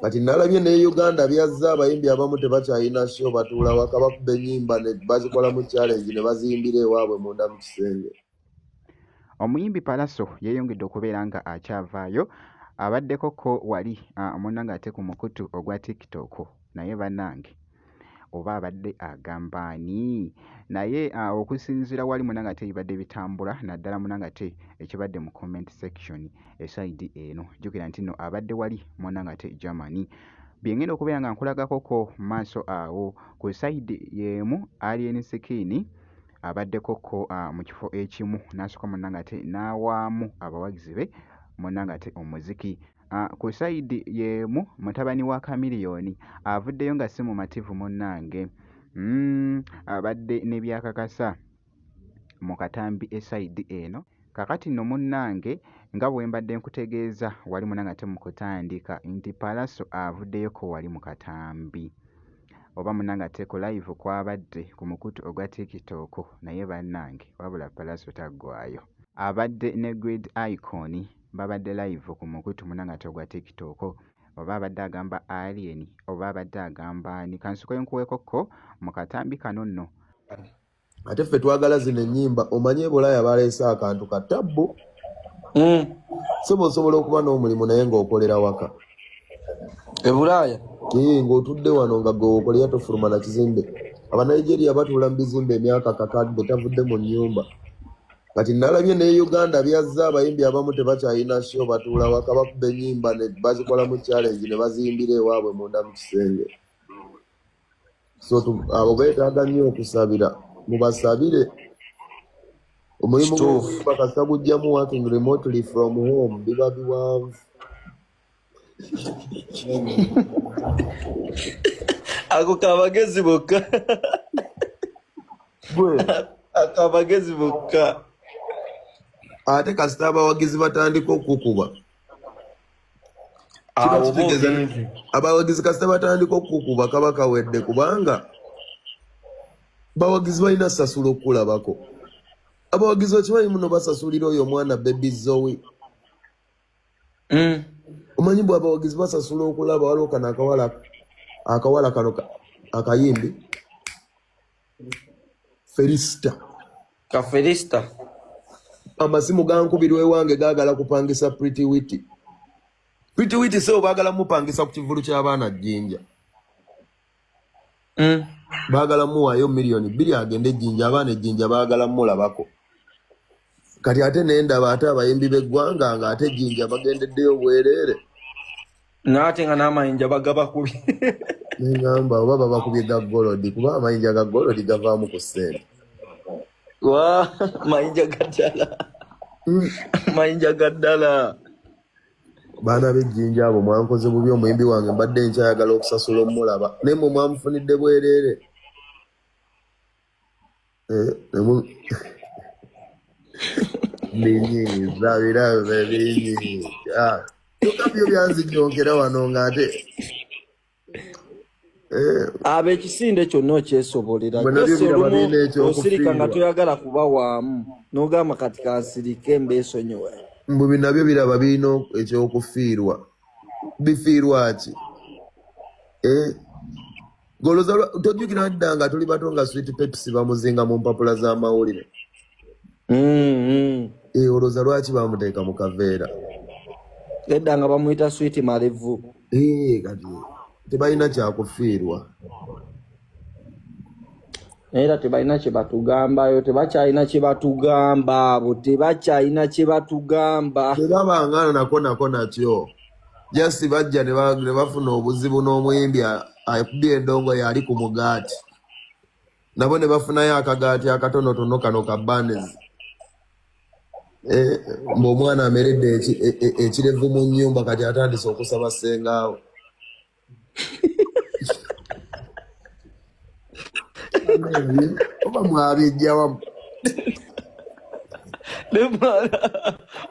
kati nalabye ne uganda byazza abayimbi abamu tebakyalina sho batuula waka bakuba enyimba bazikolamu challenge ne baziyimbira ewaabwe munda mu kisenge omuyimbi palaso yeeyongedde okubeera nga akyavaayo abaddeko ko wali omuna ah, nga ate ku mukutu ogwa tiktok naye banange oba abadde agamba ani naye ah, okusinzira wali munanga ate ebibadde bitambula naddala munanga ate ekibadde mu comment section esaidi eno jukira nti no abadde wali munanga ate germany byengenda okubeera nga nkulagakoko maaso awo ku saidi yemu alien skin abaddeko ko ah, mu kifo ekimu nasooka munanga ate n'awaamu abawagizi be munanga ate omuziki Ah, ku sayidi yeemu mutabani wa kamiliyoni avuddeyo nga si mumativu munnange mm, abadde ne byakakasa mu katambi esayidi eno kakati no munnange nga bwe mbadde nkutegeeza wali munange ate mu kutandika nti palaso avuddeyo ko wali mu katambi oba munange ate ku live kwabadde ku mukutu ogwa tiktok naye bannange wabula palaso taggwayo abadde ne grid icon babadde live ku mukutu muna ngate ogwa tiktok oba abadde agamba alien oba abadde agamba ani kansuka enkuwekokko mu katambi kano nno ate ffe twagala zino ennyimba omanye ebulaaya baleese akantu ka tabbu hmm. soba osobola okuba n'omulimu naye ng'okolera waka ebulaaya ee ng'otudde wano nga gwewokolera tofuluma na kizimbe abanigeria batuula mu bizimbe emyaka kakadde tavudde mu nnyumba kati nalabye ne uganda byazza abayimbi abamu tebakyalina sho batuula waka bakuba enyimba bazikolamu challenge ne baziyimbira ewaabwe munda mu kisenge so abo betaaga nnyo okusabira mubasabire omulimu gwokuyimba kasita gujjamu working remotely from home biba biwanvu ako kabagezi bokka akabagezi bokka ate kasita abawagizi batandika okukuba abawagizi kasita batandika okukuba kaba kawedde kubanga bawagizi balina sasula okukulabako abawagizi okimanyi muno basasulira oyo omwana bebi zoe mm. omanyi bwa abawagizi basasula okulaba waliwo kano akawala akawala kano akayimbi felista ka felista amasimu gankubirwa ewange gagala kupangisa pretty witi pretty witi seo bagala mupangisa ku kivulu ky'abaana jjinja mm. bagala muwayo million bili agende ejinja abaana ejinja bagala mulabako kati ate nendaba ate abayimbi beggwanga nga ate ejinja bagendeddeyo bwerere naate nga namayinja bagaba kubi nengamba oba babakubye ga golodi kuba amayinja ga golodi gavaamu ku sente wa mayinja gaddala mm. mayinja gaddala baana b'ejjinja abo mwankoze bubi omuyimbi wange mbadde nkyayagala okusasula omulaba naye mwe mwamufunidde bwereere eh, byo byanzijonkera wano ng'ate Eh. aba ekisinde kyonna okyesobolera osirika nga toyagala kuba waamu nogamba kati kansirike mbeesonyiwe mbu binabyo biraba birina ekyokufiirwa bifiirwa ki eh? goloza tojjukira dda nga tuli bato nga swit pepsi bamuzinga mu mpapula z'amawulire mm-hmm. eh, olwoza lwaki bamuteeka mu kaveera edda nga bamuyita swit malevu Eh, kati tebalina kyakufiirwa era tebalina kyebatugambayo tebakyalina kyebatugamba abo tebakyalina kyebatugamba tebabangana nako nako nakyo just bajja ne bafuna obuzibu n'omuyimbi akubye endongo yali ku mugaati nabo ne bafunayo akagaati akatonotono kano ka banezi ng'omwana ameredde ekirevu mu nyumba kati atandise okusaba sengaawe oba mwabijjawamu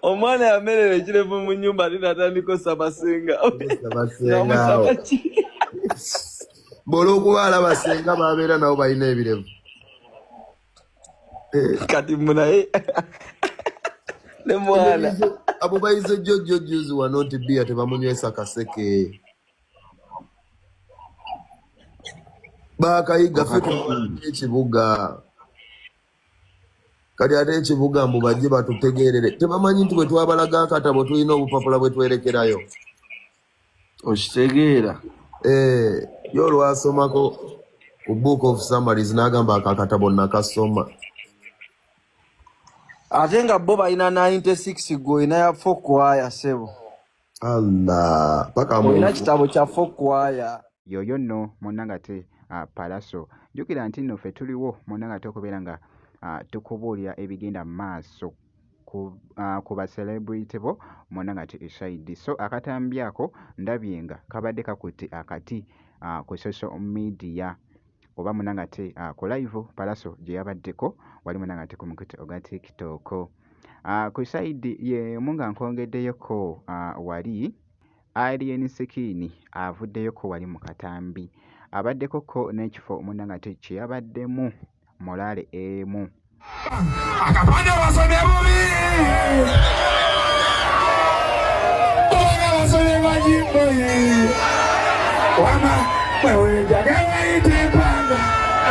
omwana yamerera ekirevu mu nyumba ate natandika osaba sengaaweamusaba ki bwolwokuba alaba senga babeera nabo balina ebirevu Eh. kati munaye ne mwana abo bayize jojo juzi wano nti bia tebamunywesa kaseke bakayiga ekibuga kati ate ekibuga mbu bajje batutegeerere tebamanyi nti bwetwabalaga akatabo tulina obupapula bwetwerekerayo okitegeera eh, yo olwasomako ku book of summaries n'agamba akakatabo nakasoma ate nga bo balina 96 gwe olina ya fokwaya sebo allah paka olina kitabo kya fokwaya yoyo nno munangate uh, palaso jukira nti nno fe tuliwo munangate okubeera nga uh, tukubuulira ebigenda mu maaso ku uh, ku ba celebrity bo mwona nga tuli shahidi so akatambi ako ndabye nga kabadde kakutte akati uh, ku social media oba mwona nga te uh, ku live palaso gye yabaddeko wali mwona nga te ku mukutu ogwa tiktok uh, ku shahidi yemu nga nkongeddeyoko uh, wali alien sikini avuddeyoko wali mu katambi abaddeko ko n'ekifo mwona nga te kye yabaddemu morale emu akapande basomye bubi kubanga basomye bajimboye wama bwewenjagawaite empanga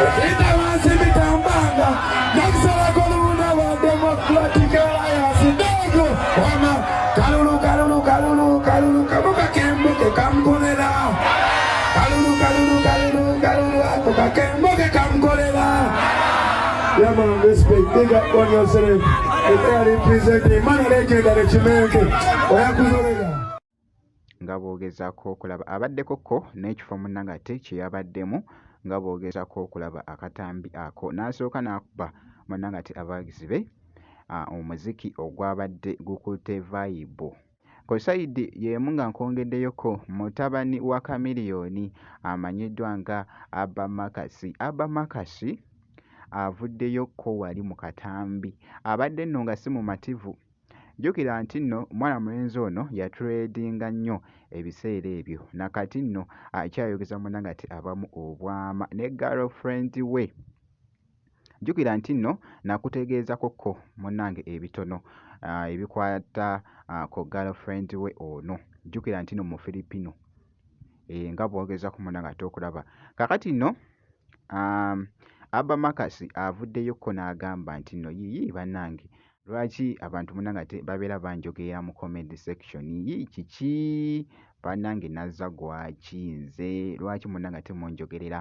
ekita wansi mitambanga nakusalako olubuna lwa democratic alliance ndogo wama kalulu kalulu kalulu kalulu kamuka kembuke kamukolera Kalulu kalulu kalulu kalulu ako kakembo ke kamkolera. Yeah man, respect. Big up on yourself. If they are representing, man, they can get a chimenke. Oyakuzolela. nga boogezaako okulaba abaddeko ko n'ekifo munnangate kye yabaddemu nga boogezaako okulaba akatambi ako n'asooka n'akuba munnangate abawagizi be omuziki ogwabadde gukutte vayibu Ku sayidi y'emu nga nkwongeddeyoko mutabani wa Chameleone amanyiddwa nga Abba Marcus. Abba Marcus avuddeyo ko wali mu katambi. Abadde nno nga si mumativu. Jjukira nti nno omwana mulenzi ono yatuleedinga nnyo ebiseera ebyo na kati nno akyayogeza munange ati abamu obwama ne girlfriend we. Jjukira nti nno nakutegeezako ko munnange ebitono ebikwata ku girlfriend we ono. Jjukira nti nno mufilipino eh, nga bwogezako munnange ate okulaba. Kakati nno um, Abba Makasi avuddeyo ko n'agamba nti nno yiyi bannange lwaki abantu munnange ate babeera banjogeera mu comment section yi kiki bannange nazza gwaki nze lwaki munnange ate munjogerera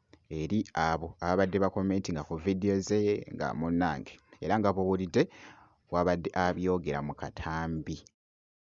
eri abo ababadde bakomentinga ku vidiyo ze nga munnange era nga bw'owulidde bw'abadde abyogera mu katambi.